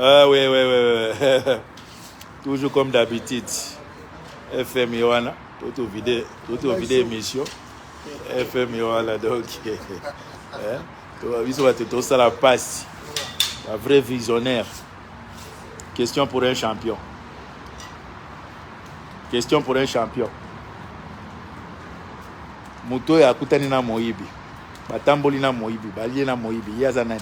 Ah oui, oui, oui, oui. Toujours comme d'habitude. FM Yohana, tout vide, tout vide émission. FM Yohana, donc. Hein? biso bato tosala mpasi ba vrai visionnaire question pour un champion question pour un champion moto oyo akutani na moyibi batamboli na moyibi balie na moyibi ye aza nani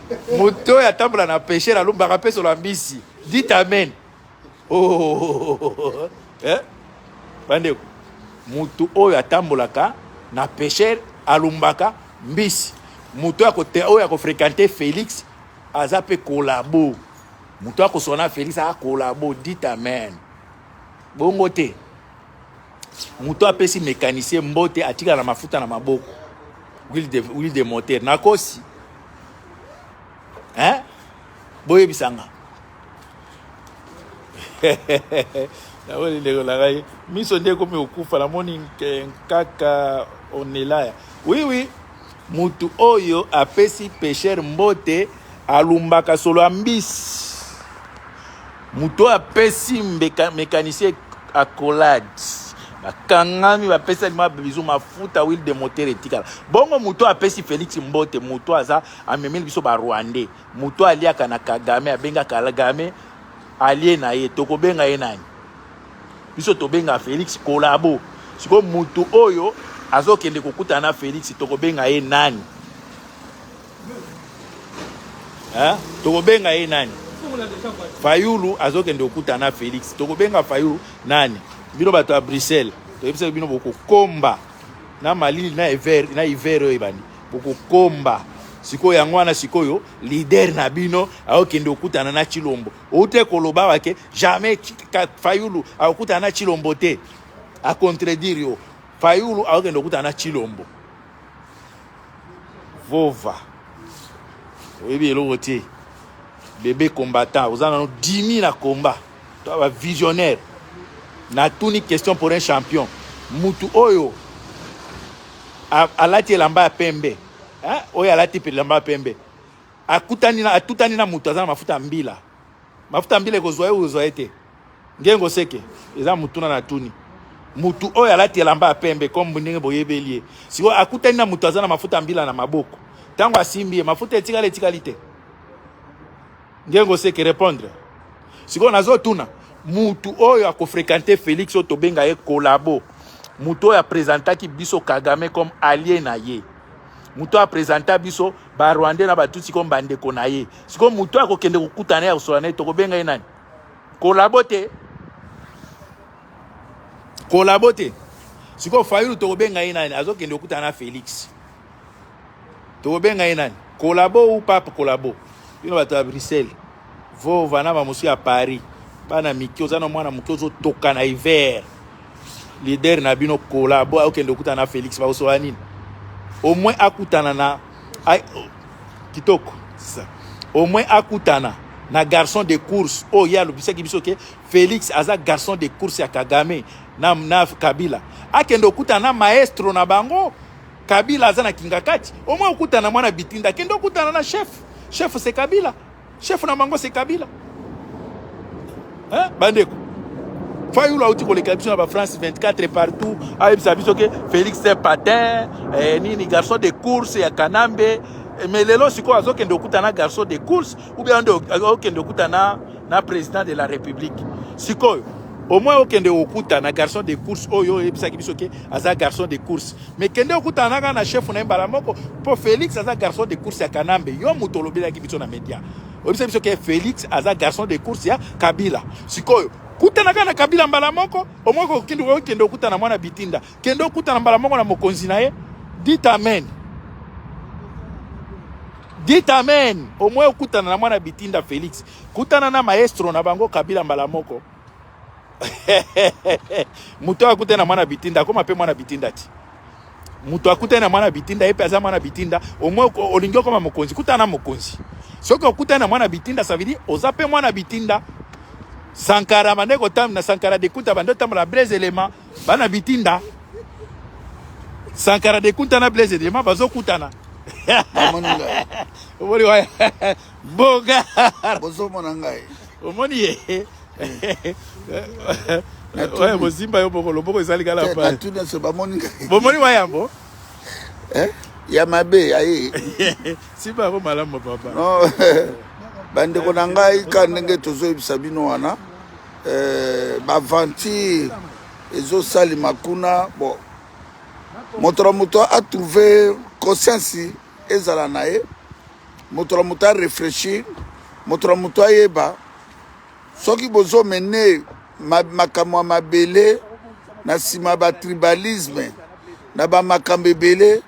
moto oyo atambola na pesher alumbaka mpe solo ya mbisi dit amen oh, oh, oh, eh? bandeko moto oyo atambolaka na pesher alumbaka mbisi moto oyo akofrekante félix aza mpe kolabo moto akosona félix aa kolabo dit amen bongo te moto apesi mécanicien mbote atikala na mafuta na maboko huile de, huile de moteur nakosi hein? boyebisa nga namoni ndeko na ngai miso nde ekomi kokufa namoni nkaka onelaya oui oui Mutu oyo apesi pecheur mbote alumbaka solo ya mbisi. Mutu oyo apesi mecanicien accolade bakangami bapesani ma bizu mafuta huile de moteur etikala bongo mutu apesi Felix mbote mutu aza amemeli biso ba rwandais mutu aliaka na Kagame abenga Kagame alie na ye tokobenga ye nani biso tobenga felix kolabo sikoyo motu oyo azokende kokutana na felix tokobenga ye nani eh? tokobenga ye nani fayulu azokende kokutana na felix tokobenga fayulu nani bino bato ya bruxelles toyebisaki bino bokokomba na malili na hiver na hiver oyo ebandi bokokomba sikoyo yango wana sikoyo lider na bino akokende kokutana na chilombo Ute koloba wake jamais Fayulu akokutana na Chilombo te. A contredire yo. Fayulu akokende kokutana na Chilombo. Vova. Oyebi eloko te. Bebe combattant, oza nanu dimi na combat. Toi ba visionnaire. Na tuni question pour un champion. Mutu oyo alati elamba ya pembe. Hein? Oyo alati elamba ya pembe. Akutani na atutani na moto aza na mafuta ya mbila. Mafuta ya mbila ekozwa ye oyo ozwa ye te. Ngengo seke eza motuna na tuni. Mutu oyo alati elamba ya pembe comme ndenge boyebeli ye. Siko akutani na moto aza na mafuta ya mbila na maboko. Tango asimbi ye mafuta etikali etikali te. Ngengo seke répondre. Siko nazo tuna mutu oyo akofrekante Felix oyo tobenga ye kolabo. Mutu oyo apresentaki biso Kagame comme allié na ye. moto apresenta biso barwandais na batutsi comme bandeko na ye sikoyo moto akokende kokutana na ye akosola na ye tokobenga ye nani kolabo te kolabo te sikoyo fayulu tokobenga ye nani azokende kokutana na félix tokobenga ye nani kolabo ou pape kolabo bino bato ya bruxelles Vova na bamosusu ya Paris bana mike oza na mwana moke ozotoka na hiver leader na bino kola bo akokende okutana na Felix bakosola nini au moins akutana na kitoko ça au moins akutana na garçon de course oyo oh, ye alobisaki biso ke Felix aza garçon de course ya Kagame na, na Kabila akende okutana na maestro na bango Kabila aza na kingakati au moins okutana mwana bitinda akende okutana na chef chef se Kabila Chef na bango c'est Kabila. Hein? Bandeko. Fayulu auti koleka biso na ba France 24 partout. Ayebisa biso ke Felix c'est patin, eh, nini garçon de course ya Kanambe. Eh, mais lelo sikoyo azokende okuta na garçon de course ou bien okende okuta na na président de la République. Sikoyo au moins okende okuta na garçon de course oyo oyebisaki biso ke aza garçon de course. Mais kende okutana naka na chef na mbala moko po Felix aza garçon de course ya Kanambe yo moto olobelaki biso na media oyebisa biso ke Felix aza garçon de course ya Kabila sikoyo kutana kaka na Kabila mbala moko omoi kokende okende okutana mwana bitinda kende okutana mbala moko na mokonzi na ye dit amen dit amen omoi okutana na mwana bitinda Felix kutana na maestro na bango Kabila mbala moko moto oyo akutani na mwana bitinda akoma mpe mwana bitinda ti moto akutani na mwana bitinda ye mpe aza mwana bitinda omoi olingi okoma mokonzi kutana na mokonzi soki okutani na mwana bitinda ça veut dire oza mpe mwana bitinda sankara bande kotambi na sankara dekuta bande otambola blaise elema bana bitinda sankara dekuta na blaise elema bazokutana omoni ngai omoni waya boga bozomona ngai omoni ye oyo bozimba yo boko loboko ezali kala eh, paatuniso bamoni ngai bomoni wa yambo eh, ya mabe aye simba yango malamu papa bandeko na ngai ka ndenge tozoyebisa bino wana eh, baventure ezosalema kuna bon moto na moto atrouve conscience ezala na ye moto na moto areflechir moto na moto ayeba soki bozomene makambo ya mabele na nsima batribalisme na bamakambo ebele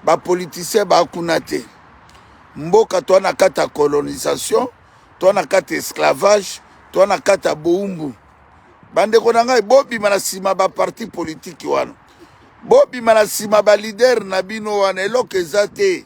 bapolitisien bakuna te mboka toa na kati ya colonisation toa na kati ya esclavage toa na kati ya boumbu bandeko na ngai bobima na nsima baparti politiki wana bobima na nsima balidere na bino wana eloko eza te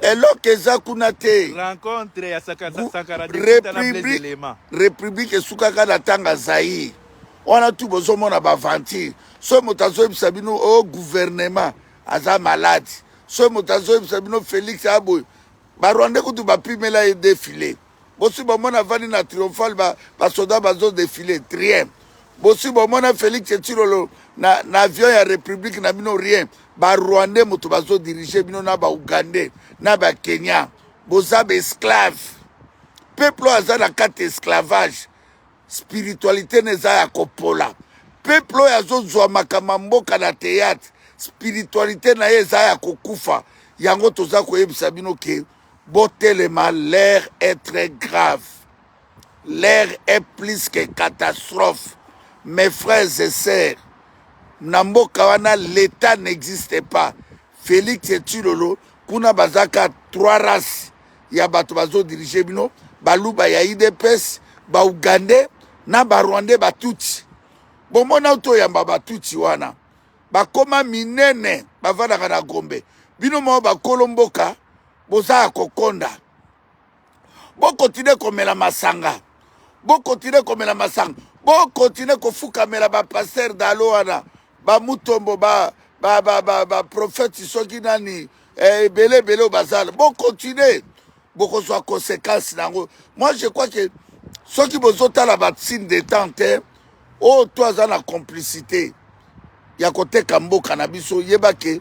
eloko eza kuna te rencontre ya sankara république esukaka na tanga zaïre wana tu bozomona baventure soki moto azoyebisa bino o oh, gouvernement aza malade soki moto azoyebisa bino félix aboye barwandais kutu bapimela ye defile Bosi bomona avandi na triomphal ba, ba soda bazo defile rien. Bosi bomona Felix Tshilolo na, na avion ya Republique na bino rien. Ba Rwandais moto bazo diriger bino na ba Ougandais na ba Kenya. Boza ba esclave. Peuple oyo aza na kati esclavage. Spiritualité neza ya kopola. Peuple oyo azozwa makama mboka na théâtre. Spiritualité na ye eza ya kokufa. Yango toza koyebisa bino ke Botelema l'heure est très grave. L'heure est plus que catastrophe. Mes frères et sœurs, na mboka wana l'etat n'existe pas. Felix et Tshilolo kuna bazaka trois races ya bato bazo diriger bino, baluba ya IDPS, ba Ougandais na ba Rwandais ba Tutsi. Bomona uto yamba ba Tutsi wana. bakoma minene bavandaka na gombe bino moko bakolo mboka boza ya kokonda bokontinue komela masanga bokontinue komela masanga bokontinue kofukamela bapaster dalo wana bamutombo ba baprofete ba, ba, ba soki nani eh, ebele eh, ebele oyo bazala bokontinue bokozwa conséquence na yango moi je crois ke soki bozotala batsine de temps te oyo to aza na complicité ya koteka mboka na biso yeba ke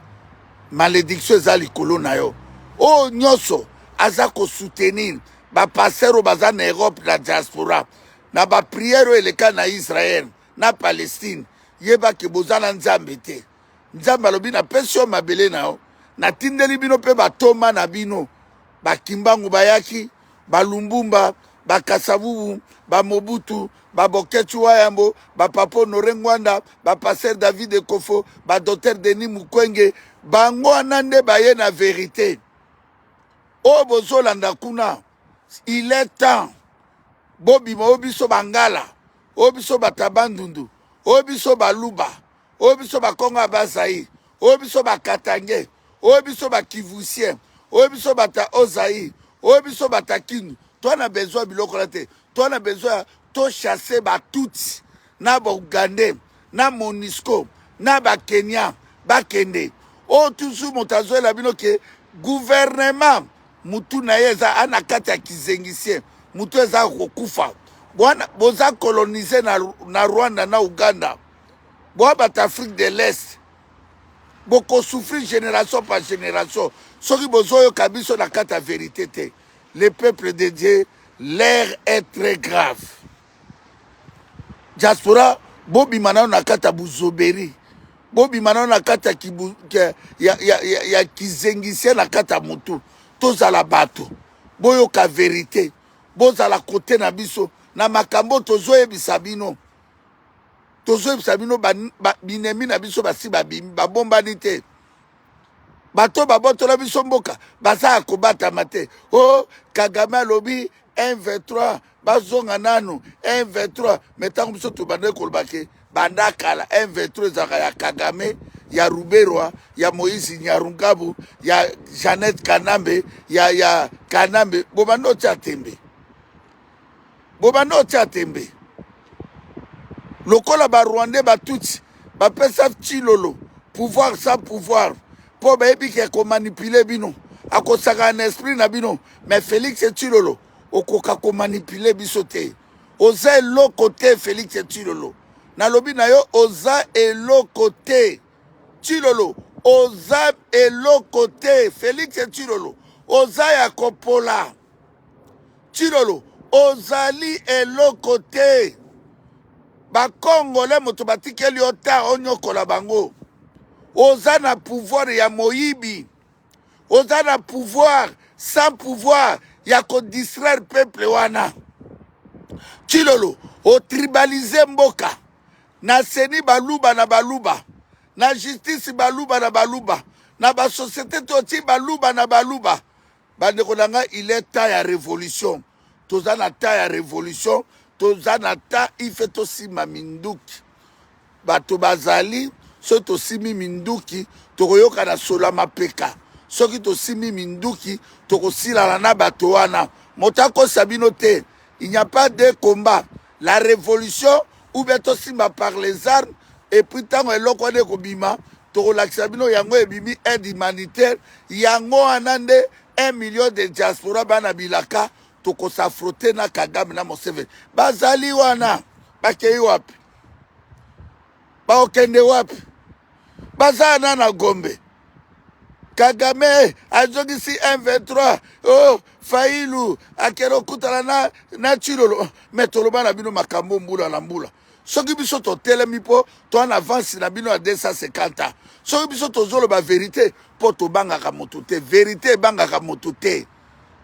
malédiction eza likolo na yo oyo nyonso aza kosoutenir bapasteur oyo baza na europe na diaspora na bapriere oyo eleka na israel na palestine yeba ke boza na nzambe te nzambe alobi napesi yo mabele na yo natindeli bino mpe batoma na bino bakimbangu bayaki ba lumbumba ba kasavubu ba mobutu ba boketshu wayambo ba papa honore ngwanda ba pasteur david ekofo ba docteur denis mukwenge bango wana nde baye na verite oyo bozolanda kuna il est temps bobima oyo biso bangala oyo biso batabandundu oyo biso baluba oyo biso bakongo ya bazaire oyo biso bakatange oyo biso bakivusien oyo biso bata ozaire oyo biso bata kindu to na besoin ya biloko na te to na besoin ya tochasse batutsi na baugandais na monisco na bakenya bakende oyo tuzu moto azoyela bino ke guvernema motu na ye eza ana kati ya kizengisien motu eza kokufa bwana boza kolonize na, na rwanda na uganda boa bato afrique de l'est bokosouffrir génération par génération soki bozoyoka biso na kati ya verité te le peuple de dieu l'air est très grave diaspora bobima nano na kati ya buzoberi bobima nano na kati ya, ya, ya, ya, ya kizengisien na kati ya motu tozala bato boyoka verité bozala kote na biso na makambo tozoyebisa bino tozoyebisa bino binemi na biso basi babimi babombani te bato babotola biso mboka baza ya kobatama te o oh, kagame alobi 123 bazonga nanu 123 me ntango biso tobandaki kolobake banda kala 123 ezalaka ya kagame ya ruberwa ya moïse nyarungabu ya jeannette kanambe ya, ya kanambe bobandi otya tembe bobanda otya tembe lokola barwandais batutsi bapesa chilolo pouvoir sans pouvoir mpo bayebi ke komanipule bino akosaka na esprit na bino mais félix chilolo okoka komanipule biso te oza eloko te félix chilolo nalobi na yo oza eloko te chilolo oza eloko te félix chilolo oza ya kopola Tshilolo ozali eloko te bakongole moto batikeli yo ta onyokola bango oza na pouvoir ya moyibi oza na pouvoir sans pouvoir ya kodistraire peuple wana Tshilolo otribalize mboka na seni baluba na baluba na justice baluba na baluba na basosiete toti baluba na baluba Bandeko na ngai il est temps ya revolution toza na temps ya revolution toza na temps ife tosimba minduki bato bazali soki tosimbi minduki tokoyoka na solo ya mapeka soki tosimbi minduki tokosilana na bato wana moto akosa bino te il n'y a pas de combat la révolution ou bien tosimba par les armes et puis ntango eloko wana ekobima tokolakisa bino yango ebimi aide humanitaire yango wana nde 1 million de diaspora bana bilaka tokosafrote na kagame na moseveni bazali wana bakei wapi baokende wapi baza na na gombe kagame azongisi m23 oh, failu akende okutana na, na chilolo me toloba na bino makambo mbula na mbula soki biso totelemi mpo to na avance na bino ya 250 ans soki biso tozoloba verite mpo tobangaka motu te verite ebangaka motu te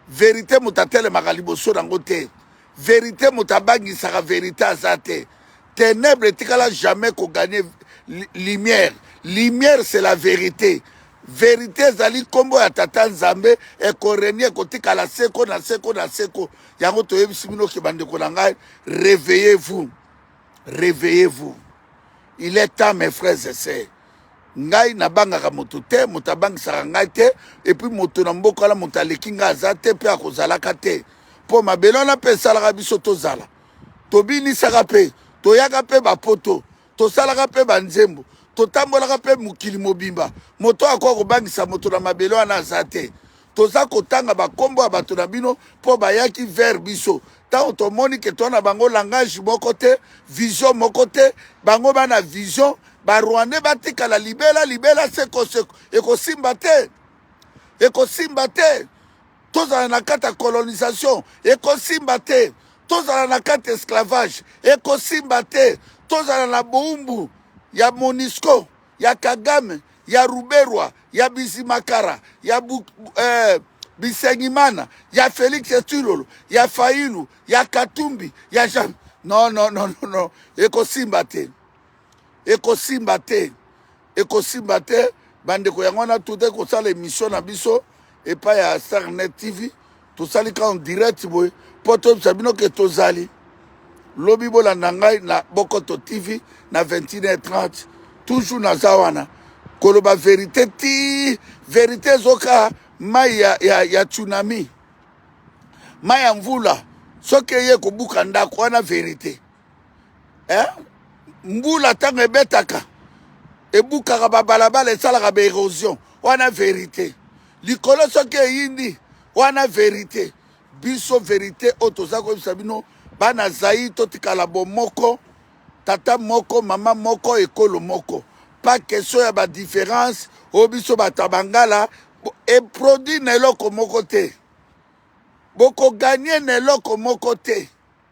verite moto atelemaka liboso na yango te verite moto abangisaka verite aza te Tenèbres etikala jamais ko gagner lumière. Lumière c'est la vérité. Verite ezali nkombo ya tata nzambe ekorenie ekotikala seko na seko na seko yango toyebisi bino ke bandeko na ngai réveillez vous réveillez vous il est temps mes frères et sœurs ngai nabangaka moto te moto abangisaka ngai te epuis moto na mboka wana moto aleki ngai aza te mpe akozalaka te mpo mabele wana mpe esalaka biso tozala tobinisaka mpe toyaka mpe bapoto tosalaka mpe banzembo totambolaka mpe mokili mobimba moto akoki kobangisa moto na mabele wana aza te toza kotanga bakombo ya bato na bino mpo bayaki vers biso ntango tomoni ke toa na bango langage moko te vision moko te bango bana vision barwandais batikala libela libela sekoseko ekosimba te ekosimba te tozala na kati ya colonisation ekosimba te tozala na kati ya esclavage ekosimba te tozala na boumbu ya monisco ya kagame ya ruberwa ya bizimakara ya bu, eh, bisengimana ya felix etilolo ya failu ya katumbi ya jean non non non non, non. ekosimba te ekosimba te ekosimba te bandeko yango wana tote kosala emission na biso epai ya starnet tv tosali ka en direct boye mpo toyebisa bino ke tozali lobi bolanda ngai na bokoto tv na 21h30 toujours naza wana koloba verite ti verite ezoka mai ya, ya, ya tsunami mai ya mvula soki eye kobuka ndako wana verite eh? mbula ntango ebetaka ebukaka babalabala esalaka baerosion wana verite likolo soki eyindi wana verite biso verite oyo toza koyebisa bino bana zai totikala bomoko tata moko mama moko ekolo moko pas question ya badifference oyo biso bato ya bangala eproduit na eloko moko te bokoganye na eloko moko te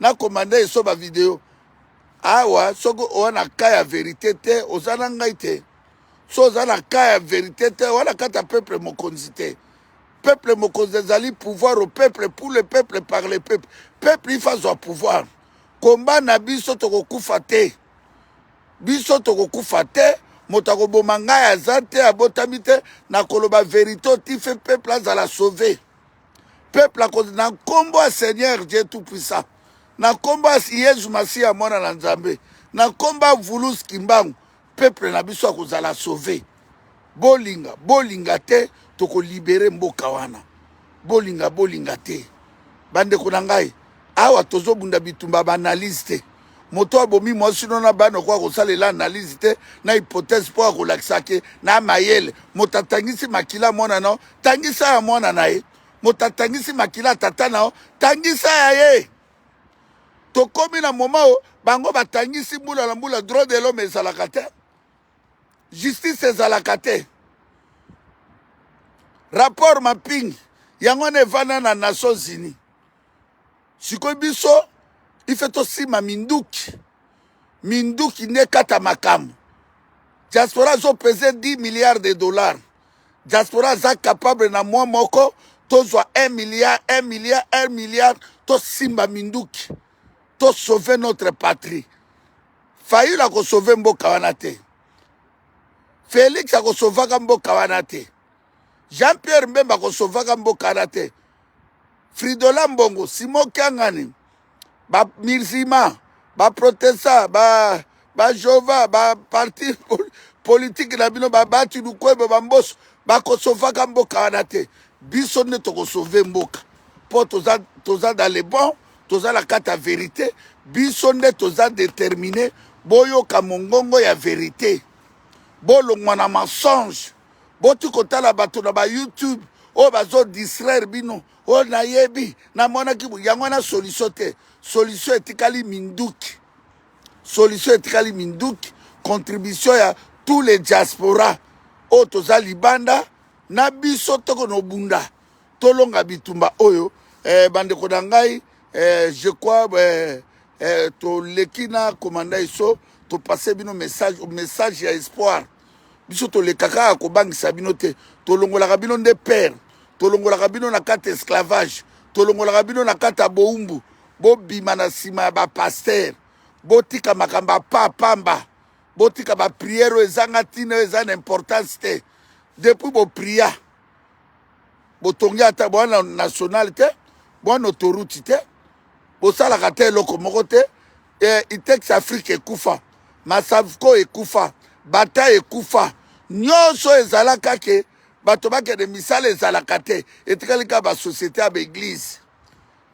na commande eso ba video awa soki oza na ka ya verite te oza na ngai te so oza na ka ya verite te wana kata peuple mokonzi te peuple mokonzi ezali pouvoir au peuple pour le peuple par le peuple peuple ifa azwa pouvoir komba na biso tokokufa te biso tokokufa te moto akoboma ngai aza te abotami te nakoloba verite otife peuple azala sauve peuple ako na nkombo ya seigneur dieu tout puissant na nkombo ya yezu masiya mwana na nzambe na nkombo ya vulus kimbangu peuple na biso akozala sauve bolinga bolinga te tokolibere mboka wana bolinga bolinga te bandeko na ngai awa tozobunda bitumba ba analyse te moto abomi mwasi no na bana okoka kosalela analyse te na hypothèse mpo akolakisa ke na mayele moto atangisi makila mwana nao tangisa ya mwana na ye moto atangisi makila tata nao tangisa ya ye tokomi na moma oyo bango batangisi mbula na mbula droit de l'homme ezalaka te justice ezalaka te rapport mapping yango wana evanda na nations unis sikoyo biso ife tosima minduki minduki nde ekata makambo diaspora azopese 10 milliards de dollars diaspora aza capable na mwa moko tozwa 1 milliard 1 milliard 1 milliard tosimba minduki tosauve notre patrie fayulu akosauve mboka wana te felix akosauvaka mboka wana te jean pierre mbemba akosauvaka mboka wana te fridola mbongo simo kiangani bamirzima baprotesta ba, ba jehova baparti politike na bino babati lukwebo bamboso bakosovaka mboka wana te biso nde tokosove mboka mpo toza, toza dans le bon toza na kati ya verite biso nde toza determine boyoka mongongo ya verite bolongwa na mensonge boti kotala bato na ba youtube oyo bazo distraire bino oyo nayebi namonaki yango wana solution te solution etikali minduki solution etikali minduki contribution ya tous les diaspora oyo toza libanda na biso toko nobunda tolonga bitumba oyo eh, bandeko na ngai eh, je crois eh, eh, toleki na komanda iso topase bino message, message ya espoir biso toleka kaka kobangisa bino te tolongolaka bino nde pere tolongolaka bino na kati esclavage tolongolaka bino na kati ya bowumbu bobima na nsima ya bapastere botika makambo ya pa pamba botika bapriere oyo ezanga ntina oyo eza na importance te depuis bopria botongi ata bwana national te bwana autoroute te bosalaka ata eloko moko te eh, itex afrique ekufa masavco ekufa bata ekufa nyonso ezalaka ke bato bakende misala ezalaka te etikali kaka basociété ya baeglize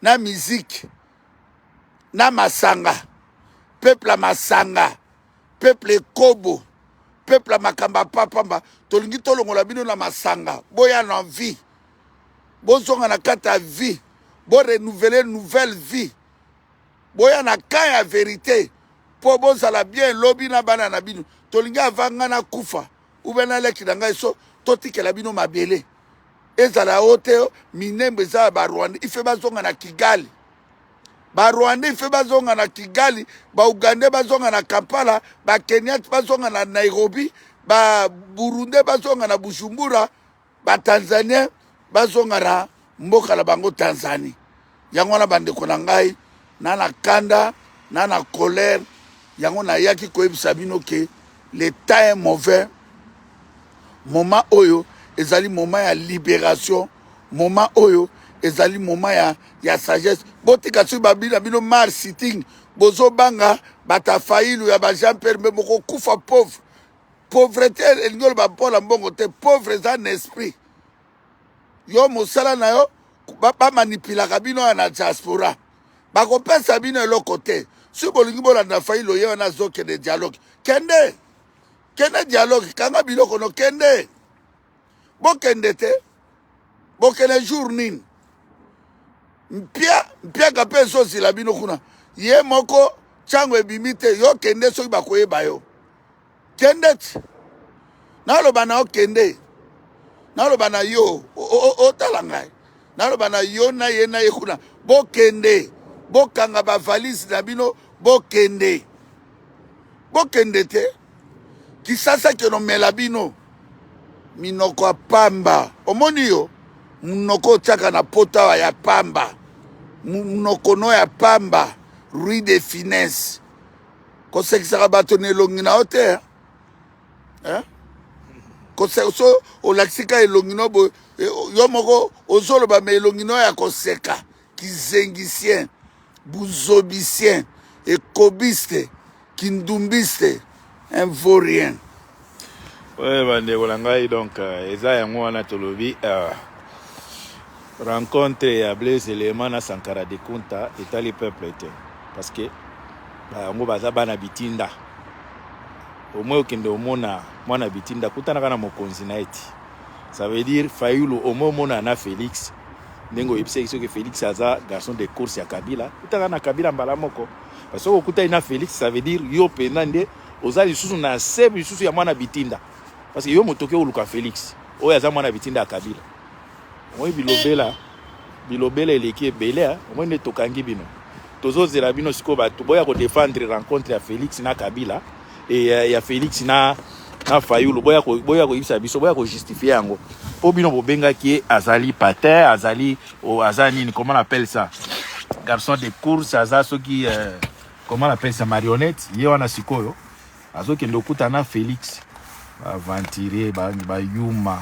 na miziki na masanga peuple ya masanga peuple ekobo peuple ya makambo ya papamba tolingi tolongola bino na masanga boya na vie bozonga na kati ya vie bo renouveler nouvelle vie boya na camp ya verite mpo bozala bien lobi na bana na bino tolingi ava ngai nakufa ube na leki na ngai so totikela bino mabele ezala o te minembo eza ya barwanda ife bazonga na kigali barwanda ife bazonga na kigali baugande bazonga na kampala bakeniate bazonga na nairobi baburunde bazonga na bujumbura ba tanzanien bazonga na mboka na bango tanzanie yango wana bandeko na ngai na na kanda na na colère yango nayaki koyebisa bino ke le temps est mauvais moment oyo ezali moment ya libération moment oyo ezali moment ya, ya sagesse botika soki babi na bino mar sitting bozobanga bata failu ya bajean pierre mbe bokokufa pauvre Pauvrete elingi oloba mpo na mbongo te, pauvre eza na esprit. Yo mosala na yo bamanipilaka ba bino ya na diaspora, bakopesa bino eloko te. Soki bolingi bolanda fai loye wana azokende dialogue, kende kende dialogue, kanga biloko no kende. bokende te bokende jour nini mpia mpiaka mpe ezozila bino kuna ye moko ntango ebimi te yo kende soki bakoyeba yo kende ti naloba na yo kende naloba na yo otala ngai naloba na yo na ye na ye kuna bokende bokanga bavalise na bino bokende bokende te kisasa keno mela bino minoko ya pamba omoni yo munoko otiaka na potawa ya pamba munoko no ya pamba rue de finesse kosekisaka bato na elongi na yo te eh? so olakisi ka elongi no boye eh, yo moko ozoloba ma elongi no ya koseka kizengicien buzobicien ekobiste kindumbiste un vaut rien oyo bandeko na ngai donc euh, eza yango wana tolobi euh, rencontre ya blaise elema na sankara de kunta etali peuple te parce que yango baza bana bitinda omoi okende omona mwana bitinda kutanaka na mokonzi na ye ti Ça veut dire Fayulu au moins mona na Felix ndenge oyebisaki soki Felix aza garçon de course ya Kabila kutaka na Kabila mbala moko parce que okutaki na Felix ça veut dire yo mpenza nde oza lisusu na se lisusu ya mwana bitinda parce que yo moto oke oluka Felix oyo aza mwana bitinda ya Kabila omoi bilobela bilobela eleki ebele omoi nde tokangi bino tozozela bino sikoyo bato boya kodefendre rencontre ya Felix na Kabila et euh, ya Felix na na Fayulu boya ko boya ko yisa biso boya ko justifier yango po bino bobenga ki azali patin azali oh, aza nini comment on appelle ça garçon de course aza soki euh, comment on appelle ça marionnette ye wana sikoyo azokende okuta na Felix aventurier ba, ba yuma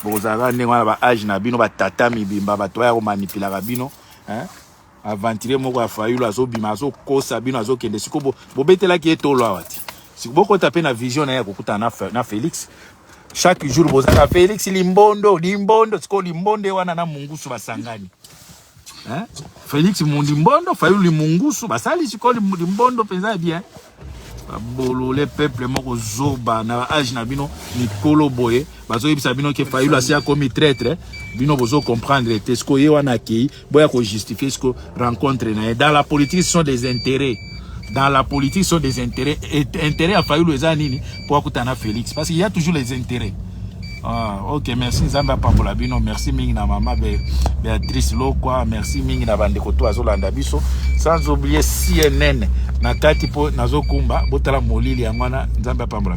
bokozalaka ndenge wana ba age na bino batata mibimba bato baya komanipilaka bino hein? aventurier moko ya fayulu azobima azokosa bino azokende siko bo, bobetelaki ye tolo awa ti siko bokota mpe na vision na ye ya kokutana na, Fe- na felix chaque jour bozaka felix limbondo limbondo sikoyo limbonde wana na mungusu basangani hein? felix mu- limbondo fayulu limungusu basali sikoyo lim- limbondo mpenza ya bien bolole peuple moko zoba na age na bino mikolo boye bazoyebisa bino ke fayulu asi akomi traitre bino bozo comprendre te siko ye wana akei boya kojustifie siko rencontre na ye dans la politique ce sont des intérêts dans la politique ce sont des intérêts intérêt ya fayulu eza nini mpo akutana na félix parce qu'il y a toujours les intérêts Ah, ok merci nzambe apambola bino merci mingi na mama be, beatrice lokwa merci mingi na bandeko to azolanda biso sans oublier cnn na kati mpo nazokumba botala molili yango wana nzambe apambola